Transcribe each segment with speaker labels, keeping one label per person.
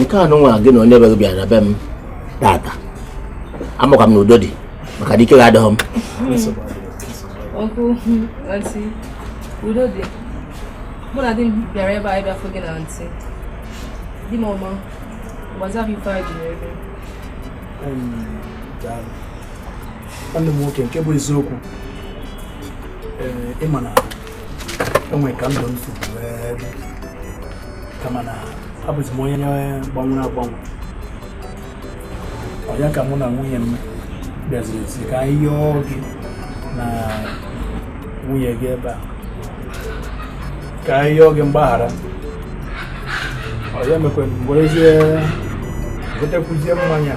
Speaker 1: nke a nụnwa gị na onye be gị bịara be m tata amakwa m na udo dị maka na ike gị adịghị m
Speaker 2: uncle auntie udo dị mụ na di m bịara ebe a ịbịafụ gị na auntie di m ọma gwazia ha ife anyị ji
Speaker 3: bịa nwanne m nwoke nke bụ eziokwu ị ma na enwere ka ndụ m si kama na abụzi m onye gbanwere agbanwe ọ ya ka mụ na nwunye m bịaziri sị ka anyị yọọ gị na nwunye gị ebe a ka anyị yọọ gị mgbaghara ọ ya mekwa m werezie gotekwuzie mmanya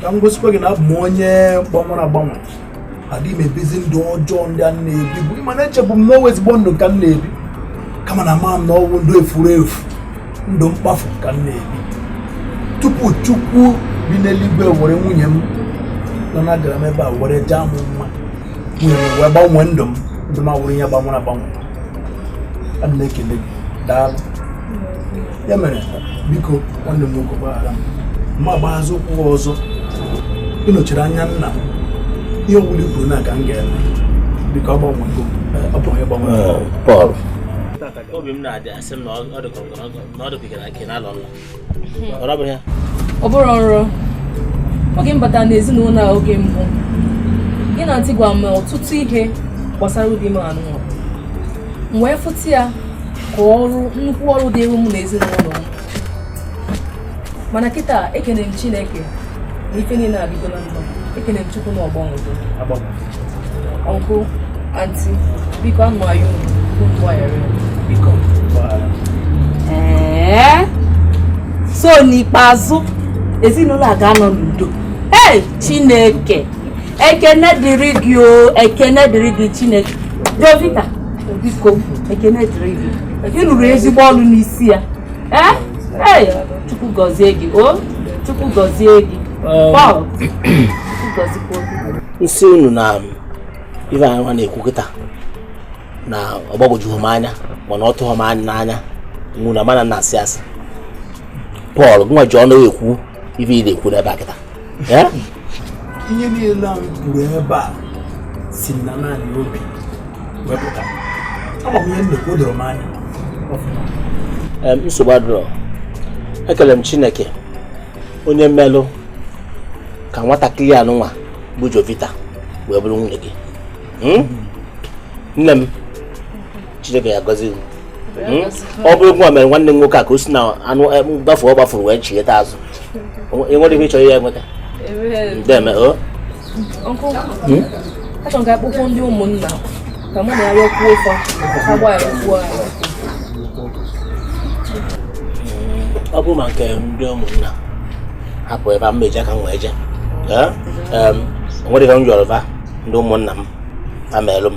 Speaker 3: ka m gosikwa gị na abụ m onye gbanwere agbanwe adịghị m ebizi ndụ ọjọọ ndị a m na-ebibu ị ma na echebu m na ọ wụ ezigbo ndụ ka m na-ebi kama na ama m na ọ wụ ndụ efuru efu ndụ mkpafu ka m na-ebi tupu chukwu bi n'eluigwe were nwunye m nọ na agara m ebe a were jaa m mma nwunye m wee gbanwee ndụ m ndụ m awụrụ ihe gbanwere agbanwe ana m ekele gị daalụ ya mere biko nwanne m nwoke gbaghara m ma gbaghazi ụkwụ ọzọ ị nọchiri anya nna m ihe ọbụla i kwuru na ka m ga-eme biko ọ gbanwego ọ bụ onye
Speaker 1: gbanwere Paul
Speaker 4: obi m na-adị asị m na ọ dịkwa na nke na-alọ nla ọ bụrụ ya ọ bụrụ
Speaker 2: ọrụ oge m batara n'ezinụlọ a oge mbụ gị na auntie gwa m ọtụtụ ihe gbasara di m anụ m wee fụta ya ka ọrụ nnukwu ọrụ dịrụ m na ezinụlọ m mana kịta ekene m chineke na ife niile adịgola mma ekene m chukwu na ọ gbanwego uncle auntie biko anyị na-ayọ mgbaghara
Speaker 5: biko ee so n'ikpeazụ ezinụlọ a ga-anọ n'udo ee chineke ekene dịrị gị o ekene dịrị gị chineke jovita biko ekene dịrị gị ị rụrụ ezigbo ọrụ n'isi ya ee ee chukwu gọzie gị o chukwu gọzie gị Paul chukwu gọzikwa gị m sị unu
Speaker 1: na ife anyị nwa na-ekwu kịta na ọ gbagwojughị m anya mana ọ tụghị m n'anya unu ma na m na-asị asị Paul gụnwa ji ọnụ ekwu ife ị na-ekwu n'ebe a kịta
Speaker 3: ihe niile a m kwuru ebe a si n'ani ani obi wee pụta ama m ihe m na-ekwu o doro m anya Em,
Speaker 1: nsogbu adịrọ ekele m chineke onye melụ ka nwatakịrị a nụnwa bụ jovita wee bụrụ nwunye gị Hmm? nne m Chineke ya gọzi hmm? ọ bụrụ ụgwọ a mere nwanne m nwoke a ka o si n'ebe ahụ eh, gbafu ọ gbafuru wee chigheta azụ ị nwere ihe ị chọrọ ya enweta ndeme o hmm? achọrọ
Speaker 2: m ka akpọkọọ ndị ụmụnna ka mụ na ya rịọkwuo fa ka gba
Speaker 1: ya okwu ahụ ọ bụrụ maka ndị ụmụnna hapụ ebe a m ji aka m wee jee eh? o nwere ihe m yọrọ ndị ụmụnna m ha meelụ m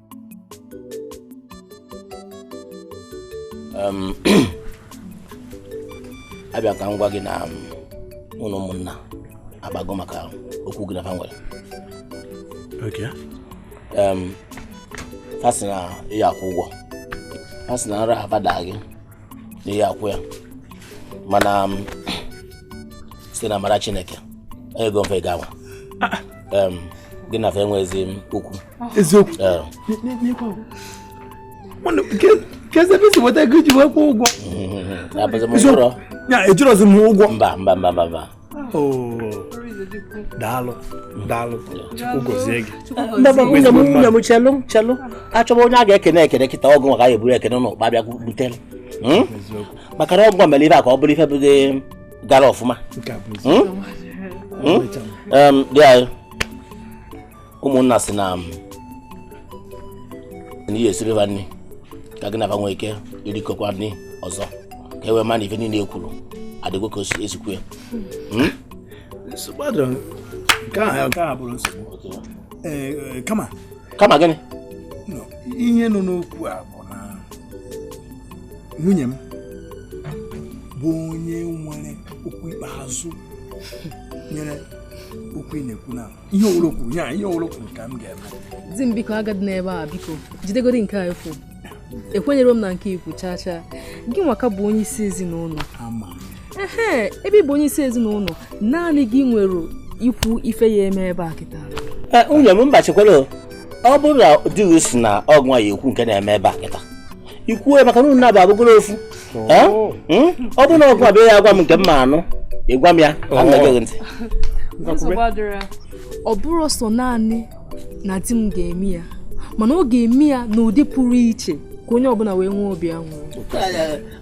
Speaker 1: abịa ka m gwa gị na ụlọ ụmụnna agbago maka okwu gị na ha nwere ha sị na ị ya akwụ ụgwọ ha sị na nra fa da gị na ị ya akwụ ya mana site n'amara chineke enyego m fa ego a nwa gị na fa enweghịzi okwu
Speaker 3: eziokwu keezi ebe i si weta ego iji wee kwụọ ụgwọ ejirozi m
Speaker 1: ụgwọ mba
Speaker 3: mba mba mba daalụ daalụ chukwu gozie gị
Speaker 1: nwunye m chelụ chelụ achọba onye a ga-ekene ekene kịta ọ bụ m ka a ya eburu ekene n'ụkpa bịa butere hmm? maka na ọ bụ m mere ife a ka ọ bụrụ ife bụdị gara ọfụma hmm? Hmm? di anyị ụmụnna sị na na ị ya esiri ha nri ka gị na fa nwee ike irikọkwa nri ọzọ ka e wee ma na ife niile e kwuru adịgo ka e si kwuo ya hmm?
Speaker 3: eh, kama kama gịnị ihe nọ n'okwu a bụ na nwunye m bụ onye nwere okwu ikpeazụ banyere okwu ị na-ekwu n'ala ihe ọbụla o kwuru ya ihe ọbụla o kwuru ka m ga-eme di m biko
Speaker 2: agadịna ebe a biko jidegodi nke afụ ekwenyero m na nke i kwuru chaa chaa gị nwa ka bụ onye isi ezinụlọ ee ebe ị bụ onye isi ezinụlọ naanị gị nwere ikwu ife a ya eme ebe a kịta e, nwunye m
Speaker 1: mba chekwara ọ bụrụ na di gị sị na ọ bụ gị ya ekwu nke na-eme ebe a kịta i kwuo maka na unu naabọ abụgoro ofu Hmm? ọ bụrụ na ọ bụ abịa ya agwa m nke m ma anụ ị gwa m ya anaghị
Speaker 2: ntị ọ bụrụ sọ naanị na di m ga-eme ya mana ọ ga-eme ya n'ụdị pụrụ iche ka onye ọbụla wee nwee obi aṅụrị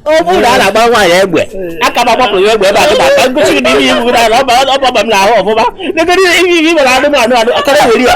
Speaker 1: ọ bụrụ na a na-agba nwaanyị egbe aka m agbapụ ya egbe ebe a kịta ka m gosi na ihe iwu na ọ ba ọ ba m n'ahụ ọfụma negodu ihe ihe ibe na anụmanụ anụ akara were ya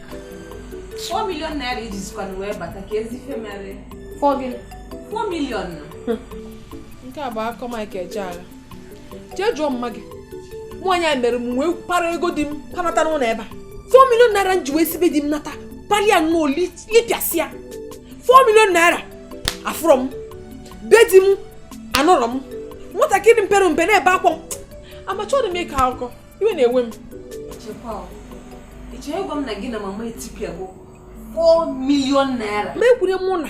Speaker 5: 4 million naira iji
Speaker 2: zikwana wee bata ka ezi ife mere 4 gịnị 4 million na nke a bụ akụkọ mike ejeagha jee jụọ mma gị nwaanyị a mere m wee para ego di m panata n'ụlọ ebe a 4 million naira m ji wee si be di m nata palụ ya nnọọ lipịasịa 4 million naira afụrọ m be di m anọrọ m nwatakịrị mpere mpe na-ebe akwa m amacha ọ dị m ịkọ akụkọ iwe na-ewe m
Speaker 5: echekwa m na gị na mama etipịa bụ 4 million naira ma ekwure mụ na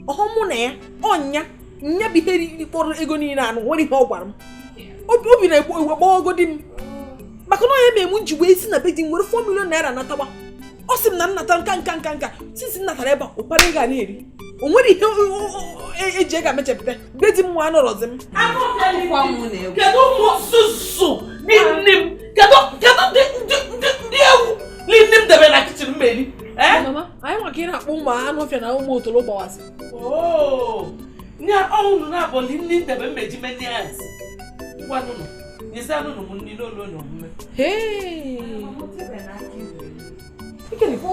Speaker 2: ọhụ mụ na ya ọnya nya bụ ihe kpọrọ ego niile anụ nwere ihe ọ gwara m obi na-egbu egbu gbawago di m maka na nya mere m ji wee si na be di m were 4 million naira natawa ọ sị m na nnata nka nka nka nka sisi nnatara ebe a ụkpara ị ga na-eri o nwere ihe eji e, e ego mechapụta be di m nwa anọrọzi m
Speaker 4: kedu ụmụ susu bi nne m kedu ndị ewu nne m debere na kitchen m eri eh? anyị
Speaker 2: nwa ka ị na-akpọ ụmụ anụ ọfịa na ụmụ otolo gbawasị oh! nye
Speaker 4: ọnwụ na-abọli nne m debe mmeji menye ya ngwanụnụ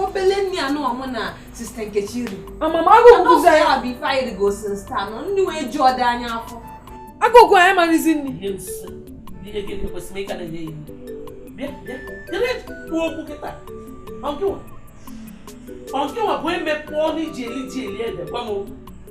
Speaker 5: obele nni anụwa mụ na sister nkechi ri mama agụụ bụzi
Speaker 2: anyị abụ ife anyị rigo
Speaker 5: since taa nọ nni wee ju ọdị anyị afọ agụụ gụ
Speaker 2: anyị marịzi nri
Speaker 4: ọnkịwa bụ eme pụọ na i ji eli ji eli ede gwa m okwu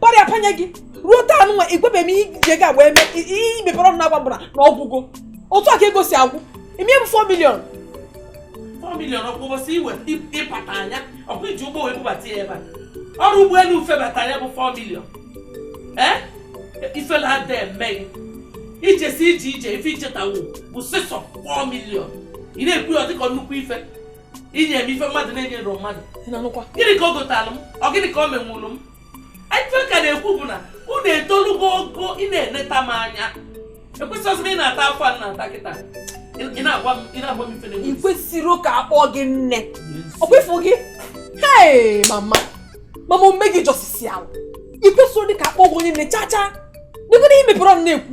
Speaker 2: para ya panye gị ruo taa nwa ị gwabe m ihe i ji ego agba eme i mepere ọnụ na-agwa mbara na ọ gwụgo otu a ka ego si agwụ ime m 4 million 4 million ọkwa ụbọchị
Speaker 4: iwe ịpata anya ọkwa iji ụgbọ wee bubata ya ebe a ọrụ ụgbọelu febata nya bụ 4 million ee ifele ada eme gị ijesi ije ije ife ichetawo bụ sọsọ 4 million ị na-ekwu ya dịka nnukwu ife inye m ife mmadụ na-enyere mmadụ gịnị ka o gotalụ m ọ gịnị ka o menwuru m ife ka na-ekwu bụ na unu etolugo ogo ị na-eneta m anya ekwesịghịzi m ị na-ata afụfụ a na-ata kịta ị na-agwa m ị na-agwa m ife na-enwe ị kwesịrọ ka a
Speaker 2: kpọọ gị nne ọ bụ ịfụ gị hei mama mama omume gị jọsisi ala ị kwesịrọdị ka a kpọọ gị onye nne chaa chaa dịgoro i mepere ọnụ na-ekwu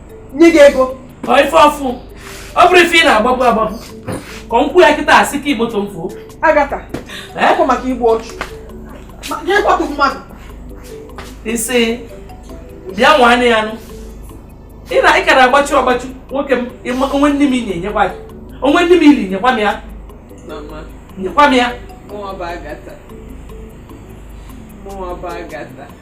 Speaker 2: nye gị ego ọ ife
Speaker 4: ọfụ ọ bụrụ ife ị na-agbagbu agbagbu ka m kwuo ya kịta asị ka igboto m fuo
Speaker 2: agatha ọkwa maka igbu ọchụ jee kwatụ mmadụ
Speaker 4: isi bịa nwanne ya nụ ị na ị kara agbachu agbachu nwoke m o nwee nni m i nye nyekwa gị o nwee nni m i li nyekwa m ya nyekwa m ya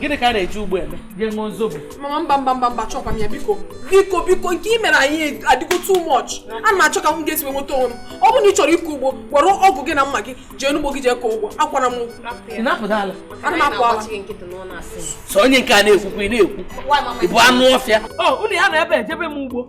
Speaker 4: gịnị ka a na-eji ugbo eme jee ṅụọ zobo mama mba mba mba
Speaker 2: mba chọkwa m ya biko biko biko nke i mere anyị adịgo too much ana m achọ ka m ga-esi nweta onwe m ọ bụrụ na ị chọrọ ịkọ ugbo were ọgụ gị na mma gị jee n'ugbo gị jee kọọ ugbo akwara m
Speaker 4: ana m apụ
Speaker 2: ala so
Speaker 4: onye nke a na-ekwukwa ị na-ekwu ị bụ anụ ọfịa unu ya na ebe ejebe m ugbo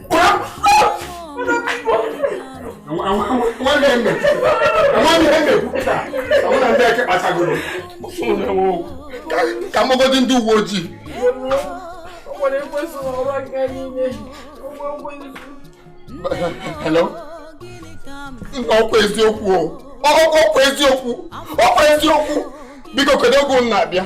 Speaker 3: ka m kpọgodi ndị uwe ojii hello ọkwa eziokwu ọkwa eziokwu ọkwa eziokwu biko kedu oge unu na-abịa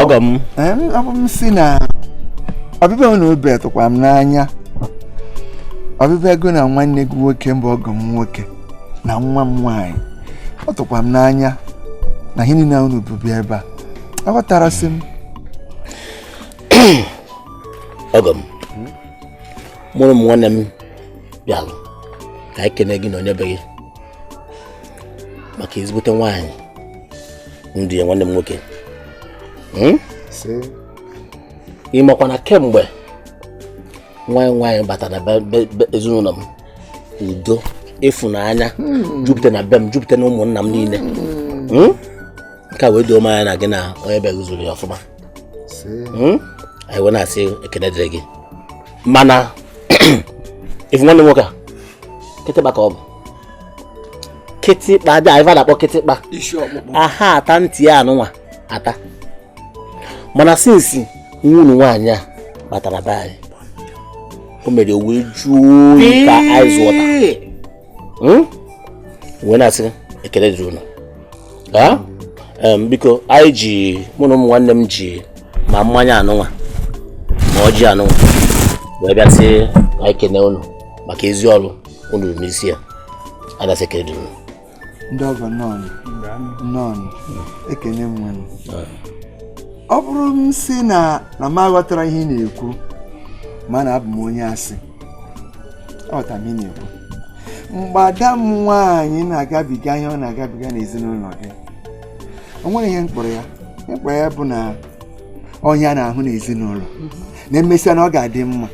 Speaker 1: ọgọ m abụ m sị
Speaker 6: na ọbịbịa unu ebe a tụkwa m n'anya ọbịbịa gị na nwanne gị nwoke bụ ọgọ m nwoke na nwa m nwaanyị ọ tụkwa m n'anya na ihe niile unu bu bịa ebe a aghọtarasị m
Speaker 1: ọgọ m mụ na ụmụ nwanne m bịalụ ka anyị kene gị na onye be gị maka ezigbote nwaanyị ndị ya nwanne m nwoke hmm? ịmakwa na kemgbe nwaanyị nwaanyị bata na ezinụlọ m udo ịfụnanya hmm. jupụta na be m jupụta na ụmụnna m niile hmm. Hmm? nke a wee doo m anya na gị na onye be gị zụrụ ya ọfụma anyị wee na-asị ekele dịrị gị mana ị fụ nwanne nwoke a kịtịkpa ka ọ bụ kịtịkpa dị anyị na-akpọ kịtịkpa aha ata ntị ya anụnwa ata mana since nwunye nwaanyị a batara be anyị o mere wee jụọ oyi ka ice water hmm? wee na-asị ekele dịrị unu biko anyị ji mụ na ụmụ nwanne m ji ma mmanya anụnwa ma ọjị anụnwa wee bịa sị anyị kene unu maka ezi ọrụ unu rụ n'isi ya anyị na-asị ekele dịrị unu ndị
Speaker 6: ọgọ nọọnụ nọọnụ ekene m nwere ọ bụrụ m sị na m aghọtara ihe ị na-ekwu ma na abụ m onye asị aghọta m ihe ị na-ekwu mgbe ada m nwaanyị na-agabiga ihe ọ na-agabiga n'ezinụlọ gị o nwere ihe m kpọrọ ya ihe m kpọrọ ya bụ na ọ ihe a na-ahụ n'ezinụlọ na emesịa na ọ ga-adị mma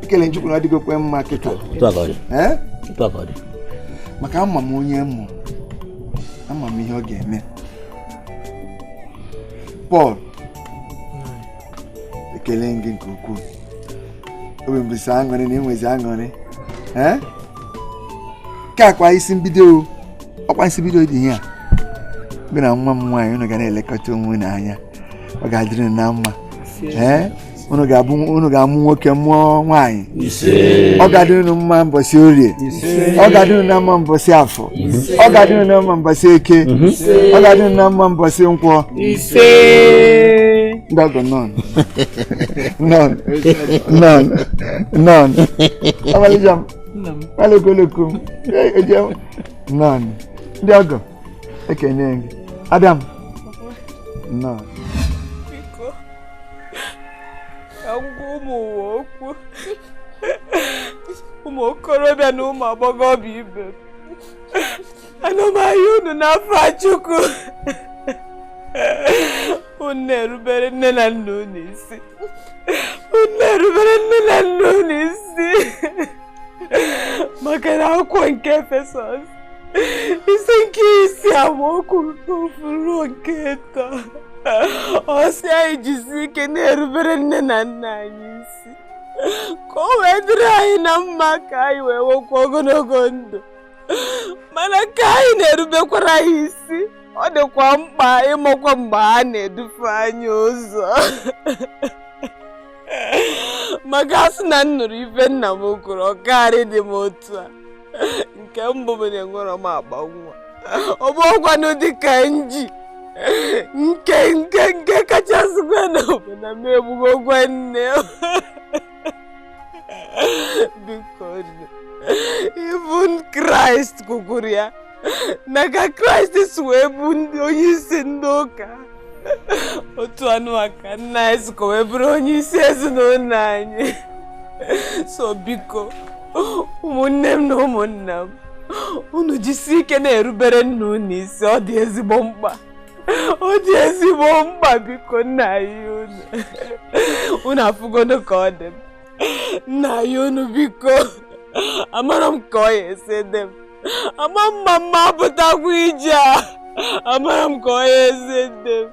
Speaker 6: ekele m Chukwu na ọ dịgokwe mma kịta maka ama m onye m mụ ama m ihe ọ ga-eme Paul ekele m gị nke ukwuu obi m bụzi aṅụrị na-enwezi aṅụrị ka akwa isi mbido ọkwa isi bido dị ihe a gị na nwa m nwaanyị unu ga na-elekọta onwe unu anya ọ ga-adịrị unu na mma unu ga-amụ nwoke mụọ nwaanyị ọ ga-adị unu mma mbọsị orie ọ ga-adị unu na mma mbọsị afọ ọ ga-adị unu na mma mbọsị eke ọ ga-adị unu na mma mbọsị nkwọ ndị ọgọ nnọọ nnọọ nnọọ nnọọ ọmalịcha m alụkoloko m eje nnọọ ndị ọgọ ekene gị ada m nnọọ
Speaker 7: ka m gwa ụmụ ụwa okwu ụmụ okorobịa na ụmụ agbọghọbịa ibe m ana m ayọ unu n'afa Chukwu unu na-erubere nne na nna unu isi unu na-erubere nne na nna unu isi maka na akwụkwọ nke Efesọs isi nke isii amaokwu nke ofu ruo nke ọ sị anyị jisi ike na-erubere nne na nna anyị isi ka o wee dịrị anyị na mma ka anyị wee nwekwa ogologo ndụ mana ka anyị na-erubekwara anyị isi ọ dịkwa mkpa ịmakwa mgbe ha na-edufe anyị ụzọ maka a sị na m nụrụ ife nna m kwuru ọ karọ ịdị m otu a nke mbụ bụ na enwerọ m akpa nwa ọ bụrọkwanụ di ka m ji nke nke nke kachasịkwanụ bụ na m egbugokwa nne biko even kraịst kwukwuru ya na ka kraịst si wee bụ onye isi ndị ụka otu anụwa ka nna anyị sikwa wee bụrụ onye isi ezinụlọ anyị so biko ụmụnne m na ụmụnna m unu jisi ike na-erubere nna unu isi ọ dị ezigbo mkpa ọ dị ezigbo mkpa biko m na-ayọ unu unu afụgonụ ka ọ dị m m na-ayọ unu biko amarọ m ka ọ ya-esi dị m ama m ma m ma-apụtakwa ije a amarọ m ka ọ ya-esi dị m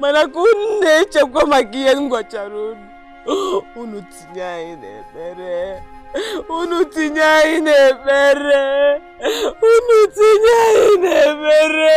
Speaker 7: mana ka unu na-echekwa maka ihe m gwachara unu unu tinye anyị n'ekpere unu tinye anyị n'ekpere unu tinye anyị n'ekpere